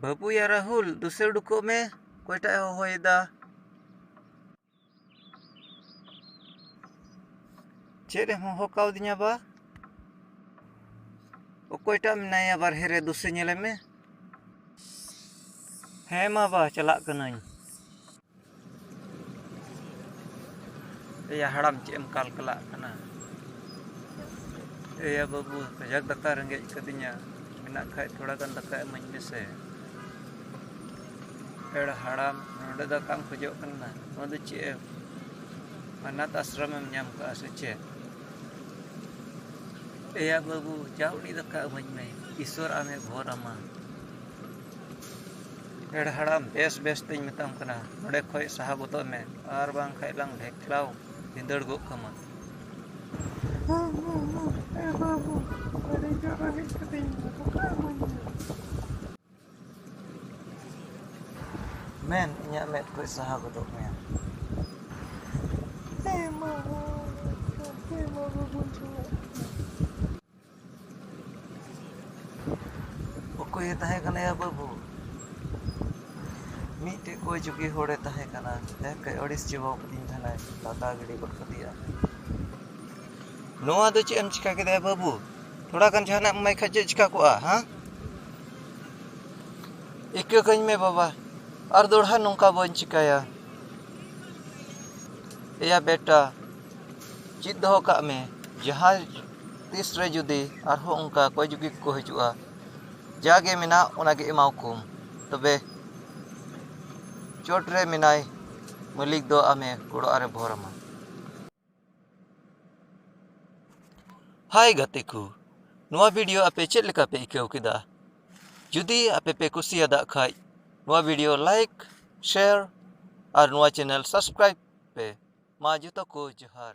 ᱵᱟᱹᱵᱩᱭᱟ ᱨᱟᱦᱩᱞ ᱫᱩᱥᱮ ᱩᱰᱩᱠᱚᱜ ᱢᱮ ᱚᱠᱚᱭᱴᱟᱜ ᱮ ᱦᱚᱦᱚᱭᱮᱫᱟ ᱪᱮᱫ ᱮᱢ ᱦᱚᱦᱚ ᱠᱟᱣᱫᱤᱧᱟ ᱵᱟ ᱚᱠᱚᱭᱴᱟᱜ ᱢᱮᱱᱟᱭᱟ ᱵᱟᱨᱦᱮ ᱨᱮ ᱫᱩᱥᱮ ᱧᱮᱞᱮ ᱢᱮ ᱦᱮᱸ ᱢᱟ ᱵᱟ ᱪᱟᱞᱟᱜ ᱠᱟᱹᱱᱟᱹᱧ ᱮᱭᱟ ᱦᱟᱲᱟᱢ ᱪᱮᱫ ᱮᱢ ᱠᱟᱞᱠᱟᱞᱟᱜ ᱠᱟᱱᱟ ᱮᱭᱟ ᱵᱟᱹᱵᱩ ᱠᱟᱡᱟᱠ ᱫᱟᱠᱟ ᱨᱮᱸᱜᱮᱡ ᱠᱟᱹᱫᱤᱧᱟ ᱢᱮᱱᱟᱜ ᱠᱷᱟᱡ ᱛᱷᱚᱲᱟ ᱜᱟᱱ ᱫᱟᱠᱟ ᱮᱢᱟᱹᱧ ᱢᱮᱥᱮ ᱮᱲ ᱦᱟᱲᱟᱢ ᱱᱚᱰᱮ ᱫᱟᱠᱟᱢ ᱠᱷᱚᱡᱚᱜ ᱠᱟᱱᱟ ᱱᱚᱣᱟ ᱫᱚ ᱪᱮᱫ ᱮᱢ ᱚᱱᱟᱛ ᱟᱥᱨᱚᱢᱮᱢ ᱧᱟᱢ ᱠᱟᱜᱼᱟ ᱥᱮ ᱪᱮᱫ ᱮᱭᱟ ᱵᱟᱹᱵᱩ ᱡᱟ ᱩᱰᱤᱡ ᱫᱟᱠᱟ ᱮᱢᱟᱹᱧ ᱢᱮ ᱤᱥᱥᱚᱨ ᱟᱢᱮ ᱵᱷᱚᱨ ᱟᱢᱟ ᱦᱮᱲ ᱦᱟᱲᱟᱢ ᱵᱮᱥ ᱵᱮᱥ ᱛᱮᱧ ᱢᱮᱛᱟᱢ ᱠᱟᱱᱟ ᱱᱚᱰᱮ ᱠᱷᱚᱡ ᱥᱟᱦᱟ ᱜᱚᱫᱚᱜ ᱢᱮ ᱟᱨ ᱵᱟᱝ ᱠᱷᱟᱡ ᱞᱟᱝ ᱰᱷᱮᱠᱞᱟᱣ ᱵᱷᱤᱸᱫᱟᱹᱲ ᱜᱚᱜ ᱠᱟᱢᱟ ᱢᱮᱱ ᱤᱧᱟᱹᱜ ᱢᱮᱫ ᱠᱷᱚᱡ ᱥᱟᱦᱟ ᱜᱚᱫᱚᱜ ᱢᱮ ᱚᱠᱚᱭᱮ ᱛᱟᱦᱮᱸ ᱠᱟᱱᱟᱭᱟ ᱵᱟᱹᱵᱩ ᱢᱤᱫᱴᱮᱡ ᱠᱚᱭ ᱡᱩᱜᱤ ᱦᱚᱲᱮ ᱛᱟᱦᱮᱸ ᱠᱟᱱᱟ ᱦᱮᱸ ᱠᱟᱹᱡ ᱟᱹᱲᱤᱥ ᱪᱟᱵᱟ ᱠᱟᱹᱫᱤᱧ ᱛᱟᱦᱮᱱᱟᱭ ᱞᱟᱸᱫᱟ ᱜᱤᱰᱤ ᱜᱚᱫ ᱠᱟᱫᱮᱭᱟ ᱱᱚᱣᱟ ᱫᱚ ᱪᱮᱫ ᱮᱢ ᱪᱤᱠᱟ ᱠᱮᱫᱟᱭᱟ ᱵᱟᱹᱵᱩ ᱛᱷᱚᱲᱟ ᱜᱟᱱ ᱡᱟᱦᱟᱱᱟᱜ ᱮᱢᱟᱭ ᱠᱷᱟᱡ ᱪᱮᱫ ᱪᱤᱠᱟ ᱠᱚᱜᱼᱟ ᱦᱮᱸ ᱤᱠᱟᱹ ᱠᱟᱹᱧ ᱢᱮ ᱵᱟᱵᱟ ᱟᱨ ᱫᱚᱲᱦᱟ ᱱᱚᱝᱠᱟ ᱵᱟᱹᱧ ᱪᱤᱠᱟᱭᱟ ᱮᱭᱟ ᱵᱮᱴᱟ ᱪᱮᱫ ᱫᱚᱦᱚ ᱠᱟᱜ ᱢᱮ ᱡᱟᱦᱟᱸᱭ ᱛᱤᱥ ᱨᱮ ᱡᱩᱫᱤ ᱟᱨᱦᱚᱸ ᱚᱱᱠᱟ ᱚᱠᱚᱭ ᱡᱩᱜᱤ ᱠᱚᱠᱚ ᱦᱤᱡᱩᱜᱼᱟ ᱡᱟᱜᱮ ᱢᱮᱱᱟᱜ ᱚᱱᱟᱜᱮ ᱮᱢᱟ ᱠᱚᱢ ᱛᱚᱵᱮ ᱪᱚᱴ ᱨᱮ ᱢᱮᱱᱟᱭ ᱢᱟᱹᱞᱤᱠ ᱫᱚ ᱟᱢᱮ ᱜᱚᱲᱚ ᱟᱨᱮ ᱵᱷᱚᱨ ᱟᱢᱟ ᱦᱟᱭ ᱜᱟᱛᱮ ᱠᱚ ᱱᱚᱣᱟ ᱵᱷᱤᱰᱤᱭᱳ ᱟᱯᱮ ᱪᱮᱫ ᱞᱮᱠᱟ ᱯᱮ ᱟᱹᱭᱠᱟᱹᱣ ᱠᱮᱫᱟ ᱡᱩᱫᱤ ᱟᱯᱮ ᱯᱮ ᱠᱩᱥᱤᱭᱟᱫᱟ ᱠᱷᱟᱡ ᱱᱚᱣᱟ ᱵᱷᱤᱰᱤᱭᱳ ᱞᱟᱭᱤᱠ ᱥᱮᱭᱟᱨ ᱟᱨ ᱱᱚᱣᱟ ᱪᱮᱱᱮᱞ ᱥᱟᱵᱥᱠᱨᱟᱭᱤᱵᱽ ᱯᱮ ᱢᱟ ᱡᱚᱛᱚ ᱠᱚ ᱡᱚᱦᱟᱨ